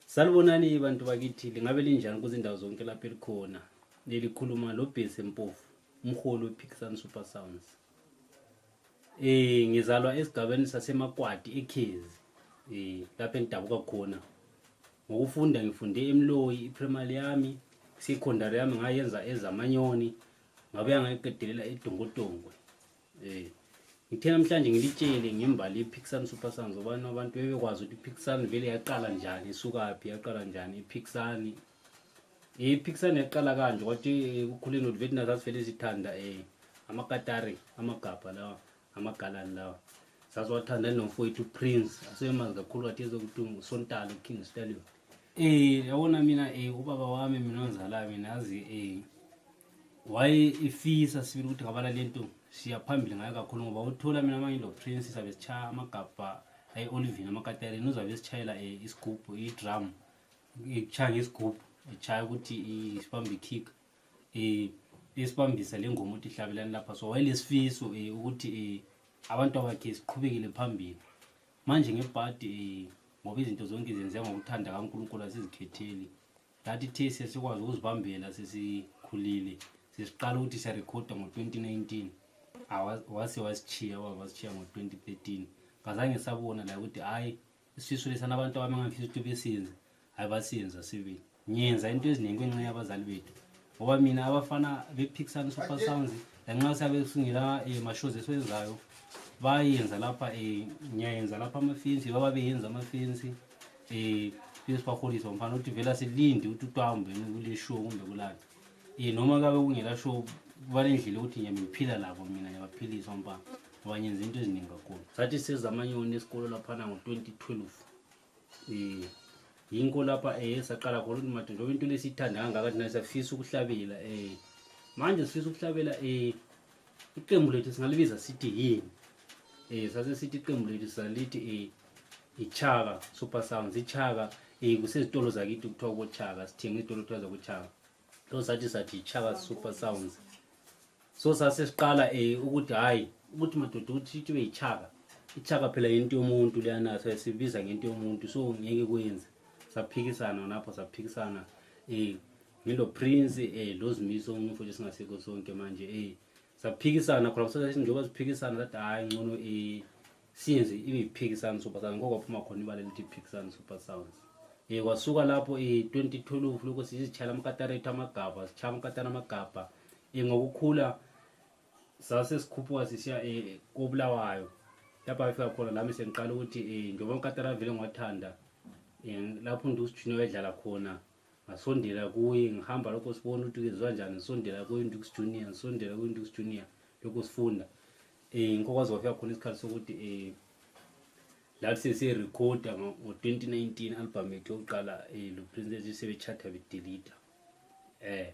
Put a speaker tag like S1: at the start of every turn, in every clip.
S1: Salubonani bantu bakithi lingabe linjani kuzindawo zonke lapho elikhona lelikhuluma lo Bhesi Mpofu umholi wePhikisani Super Sounds eh ngizalwa esigabeni sasemakwadi eKhezi eh lapho engidabuka khona ngokufunda ngifunde eMloyi iprimary yami secondary yami ngayenza ezamanyoni ngabuya ngayiqedelela eDongotongwe Eh. Ngithe namhlanje ngilitshele ngembali iPixan Super Sons obani abantu bebekwazi ukuthi iPixan vele yaqala njani isukaphi yaqala njani iPixan iPixan yaqala kanje kwathi eh, kukhuleni ukuthi vele nazazi vele sithanda eh amakatari amagabha lawa amagalani lawa saziwathanda nomfowethu Prince asemazi kakhulu wathi ezokuthi uSontalo King Stallion eh yabona mina eh ubaba wami mina ongizalayo mina azi eh waye efisa sibili ukuthi ngabala lento siya phambili ngayo kakhulu ngoba uthola mina manje lo prince sabe sichaya amagabha ayi olivini amakatereni uzabe sichayela eh, isigubhu idrum ekuchaya ngesigubhu echaya ukuthi isibambe kick eh esibambisa le ngoma ukuthi ihlabelani lapha so wayelesifiso um eh, ukuthi um abantu abakhe siqhubekele phambili manje ngebhadi um ngoba izinto zonke zenzeka ngokuthanda kankulunkulu asizikhetheli That it is sesikwazi ukuzibambela sesikhulile sesiqala ukuthi siyarekhoda ngo-2019 wase wasishiya wasishiya ngo-2013 ngazange sabona la ukuthi hhayi isifiso lesana abantu abami ngangifisa ukuthi besinze hhayi basinza sibili ngiyenza into eziningi kwenxa yabazali bethu ngoba mina abafana bephikisana super sounds lanxa siyabe singela um eh, mashows esiwenzayo bayenza lapha um ngiyayenza lapha amafensi baba beyenza amafensi eh phese baholisa umfana uthi vele asilindi ukuthi utwambe kule show kumbe kulana eh noma kabe kungela show kuba nendlela ukuthi nje ngiphila labo mina ngiyabaphilisa umfana ngoba ngenza into eziningi kakhulu sathi seza amanyoni esikolo laphana ngo-2012 um eh, yinko lapha um eh, saqala khona ukuthi made njengoba into lesiyithanda kangaka thina siyafisa ukuhlabela um eh, manje sifisa ukuhlabela um iqembu lethu singalibiza sithi yini eh sase sithi iqembu lethu salithi eh ichaka super sounds ichaka eh kusezitolo zakithi kuthiwa kochaka sithenga izitolo kuthiwa zakuchaka so sathi sathi ichaka super sounds so sase siqala eh ukuthi hayi ukuthi madoda ukuthi ithi beyichaka ichaka phela into yomuntu leyana so sibiza ngento yomuntu so ngeke kwenze saphikisana lapho saphikisana eh ngilo prince eh lo zimiso umfowethu singasekho sonke manje eh saphikisana khona kusase njengoba siphikisana that hayi ngcono eh siyenze ibiphikisana super sounds ngoko phuma khona imali elithi phikisana super sounds eh kwasuka lapho eh 2012 lokho sizichala amakatarate amagabha sichaya amakatana amagabha eh ngokukhula sase sikhuphuka sisiya eh kobulawayo lapha afika khona lami sengiqala ukuthi eh njengoba amakatarate vele ngiwathanda eh lapho ndusijunior edlala khona ngasondela kuye ngihamba lokho sibona ukuthi kezwa njani ngisondela kuyindux junior ngisondela kuyindux junior lokho sifunda um ngikokwazi kwafika khona isikhathi sokuthi um lathi sirecorda ngo-twenty nineteen album yethu yokuqala um eh, luprince ethi sebechata bedelita um eh,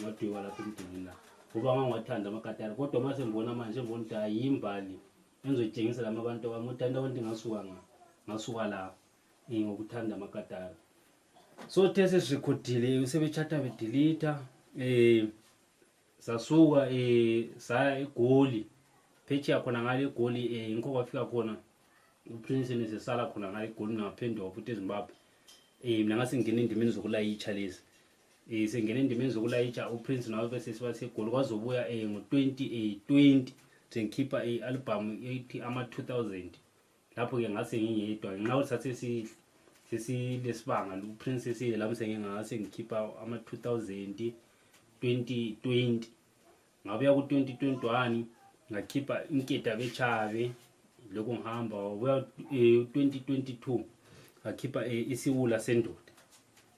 S1: ngadweba lapha emdulini la ngoba ngangiwathanda amakatara kodwa uma sengibona manje ngibona ukuthi hayi yimbali engizoyitshengisa lama abantu wami ukuthi anti abantu ngasuka nga ngasuka la eh, ngokuthanda amakatara so the sesirekhodile sebechata bedelita um eh, sasuka um saya egoli phetshiya khona ngale egoli um ngikho kwafika khona uprince nesesala khona ngale egoli nangaphendwa futhi ezimbabwe um mina ngasingena endimeni zokulayitsha lezi Eh, sengena endimeni zokulayitsha uprince nowabesesi basegoli kwaze ubuya um ngo-2020 sengikhipha i-albhamu ethi ama-2000 lapho-ke ngase ngingedwa ngenxa ukuthi sathe sesilesibanga uprince esile lami sengingase ngikhipha ama-2000 2020 ngabuya ku-2021 ngakhipha inkeda bechave lokhu ngihamba wabuya um eh, 2022 ngakhipha eh, isiwula sendoda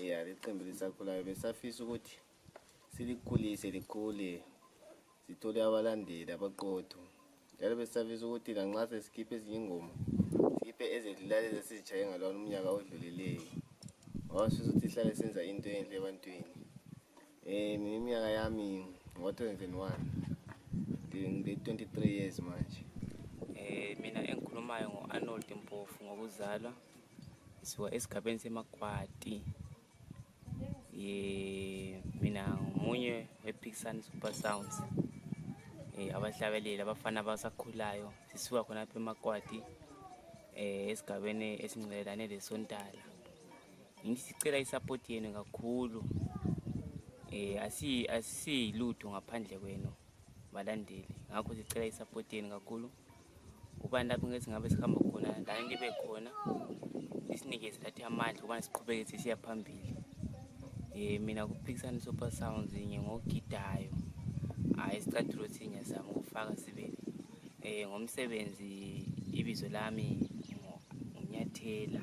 S2: Yeah, liqembu lisakhulayo besafisa ukuthi silikhulise likhule sithole abalandeli abaqotho njalo besisafisa ukuthi nanxa sesikhiphe ezinye ingoma sikhiphe ezedlulayo ezesizitshaye ngalona umnyaka odlulileyo ngoba sifisa ukuthi sihlale senza into enhle ebantwini um mina iminyaka yami ngo-twenty-twenty one ngile-twenty-three years manje um mina
S3: engikhulumayo ngo-arnold mpofu ngokuzalwa Ngisuka esigabeni seMakwati. Eh mina ngomunye wePixan Super Sounds. Eh abahlabeleli abafana abasakhulayo sisuka khona lapha eMakwati eh esigabeni esingcelelane lesontala. Ngithi sicela isupport yenu kakhulu. Eh asi asiyilutho ngaphandle kwenu balandeli. Ngakho sicela isupport yenu kakhulu. ubani lapho ngethi ngabe sihamba khona la ngibe khona isinikeze lathi amandla ukubana siqhubeke sisiya phambili um mina kuphikisana super sounds nye ngogidayo hhayi isicathulo sinye sami ukufaka sibili um ngomsebenzi ibizo lami nginyathela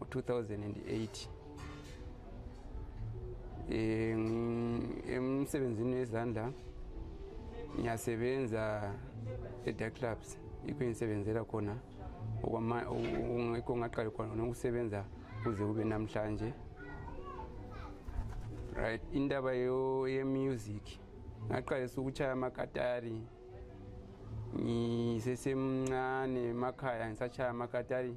S4: 2008 emsebenzini wezandla ngiyasebenza e-dark clubs yikho engisebenzela khona yikho ngaqali khona nokusebenza kuze kube namhlanje right indaba yemusic ngaqalisa ukuchaya amakatari ngisesemncane emakhaya ngisachaya amakatari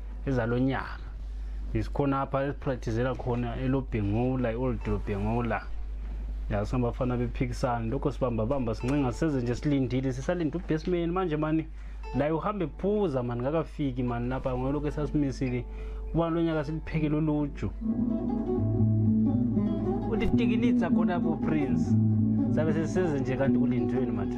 S1: ezalonyaka isikhona apha esipractizela khona elobhengula i-old lobhengula yaso abafana bephikisana lokho sibamba bamba sincenga seze nje silindile sisalinde ubesimeni manje mani laye uhambe phuza mani ngakafiki mani lapha ngolokhu esasimisile kuba lo nyaka siliphekele uluju ulitikilitsa khona bo prince sabe seseze nje kanti kulindweni manje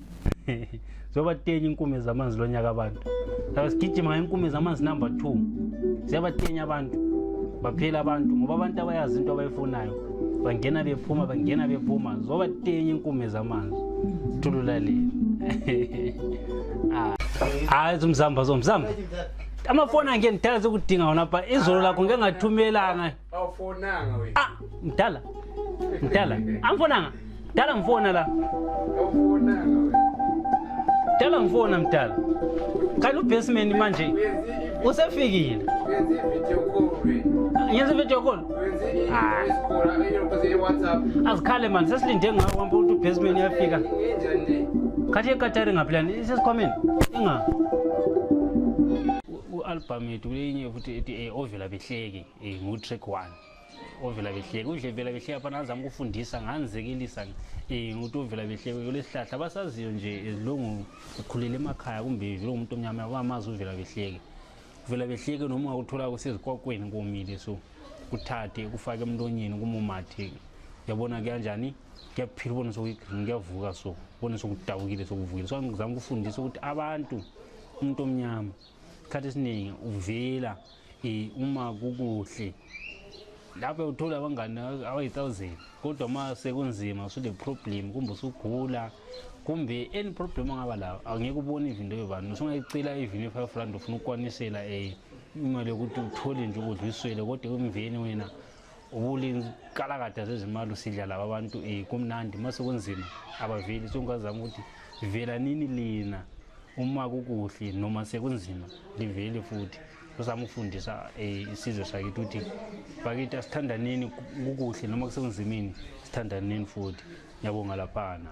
S1: zobatenya inkume zamanzi lo nyaka abantu laba sigijima ngenkume zamanzi number two ziyabatenya abantu baphela abantu ngoba abantu abayazi into abayifunayo bangena bephuma bangena bephuma zobatenya inkume zamanzi thululaleli ah. hayi zumzamba zomzamba amafoni angenithanda sekudinga wona pha izolo lakho ngengathumelanga awufonanga
S4: wena ah mdala
S1: mdala angifonanga mdala ngifona la awufonanga
S4: wena mdala
S1: ngifona mdala khala ubasement manje usefikile wenza ivideo
S4: call wena ngenza ivideo call
S1: wenza i-voice call
S4: ayiyokhoze i-whatsapp azikhale mani sesilinde
S1: ngawo uhamba ukuthi ubasement uyafika ngenjani
S4: le khathi ekatari
S1: ngaphilani isesikhwameni inga u-albhamu yethu kulenye futhi ethi eh, ovela behleki Eh ngutrick one. Ovela behleke udle vela behleke apha nazama ukufundisa nganzekelisa eh nguthi ovela behleke kulesihlahla basaziyo nje ezilungu ukhulele emakhaya kumbe vile umuntu omnyama abamazi uvela behleke. Uvela behleke noma ungakuthola kusezikwakwini komile so kuthathe kufake emlonyeni kumumathe yabona kuyanjani kuyaphila ubone sokuyigreen kuyavuka so ubone sokudabukile sokuvukile so ngizama ukufundisa ukuthi abantu umuntu omnyama isikhathi esiningi uvela so, uma kukuhle lapho uthola abangani abayi-thousand kodwa uma sekunzima usune-problem kumbe usugula kumbe any problem ongaba lawo angeke ubone ivinto yobani usungayicela ivini ye-five rand ufuna ukukwanisela um imali yokuthi uthole nje ukudla uyiswele kodwa emveni wena ubulimi kalakada zezimali usidla laba abantu um eh, kumnandi uma sekunzima abaveli songazama ukuthi vela nini lina uma kukuhle noma sekunzima liveli futhi uzama ukufundisa eh, isizwe sakithi ukuthi bakithi asithandaneni kukuhle noma kusekunzimini sithandaneni futhi ngiyabonga laphana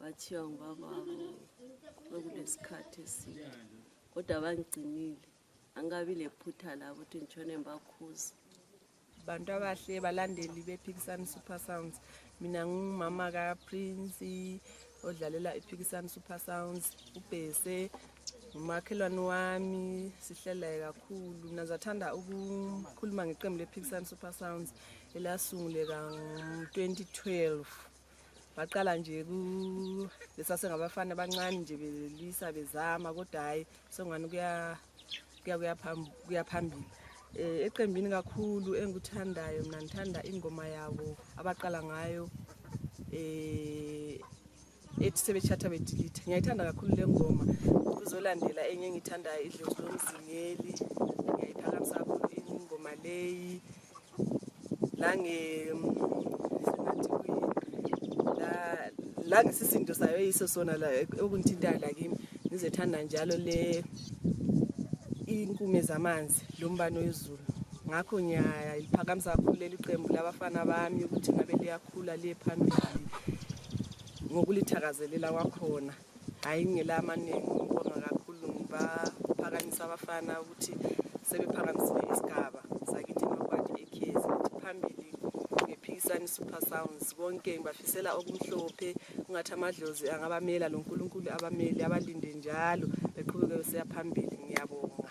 S5: bathiwa ngubababo bekulesikhathi eside kodwa bangigcinile angikabi lephutha labo ukuthi ngitshone ngibakhuza bantu
S6: abahle balandeli bephikisani super sounds mina ngumama kaprince odlalela iphikisani super sounds ubhese ngumakhelwane wami sihlelaye kakhulu mina zathanda ukukhuluma ngeqembu lephikisani super sounds elasunguleka ngo-2012 baqala nje lesasengabafana abancane nje belwisa bezama kodwa hhayi sengani kuya phambili um eqembini kakhulu engikuthandayo mna ngithanda ingoma yabo abaqala ngayo um ethi sebetshatha bedilithe ngiyayithanda kakhulu le ngoma kuzolandela enye engiyithandayo idlozi lomzingeli ngiyayiphakamisa kakhulu ingoma leyi nange la ngisisindo sayo yiso sona la okungithintayo la kimi ngizethanda njalo le inkume zamanzi lo mbani wezulu ngakho ngiyaliphakamisa kakhulu leli qembu labafana bami ukuthi ngabe liyakhula liye phambili ngokulithakazelela kwakhona Hayi ngingela amaningi ngibonga kakhulu ngibaphakamisa abafana ukuthi sebephakamisile isigaba sakithi nokwakhe ekhezi ukuthi phambili ngephikisani super sounds konke ngibafisela okumhlophe ungathi amadlozi angabamela lo nkulunkulu abameli abalinde njalo beqhubeke beseya phambili ngiyabonga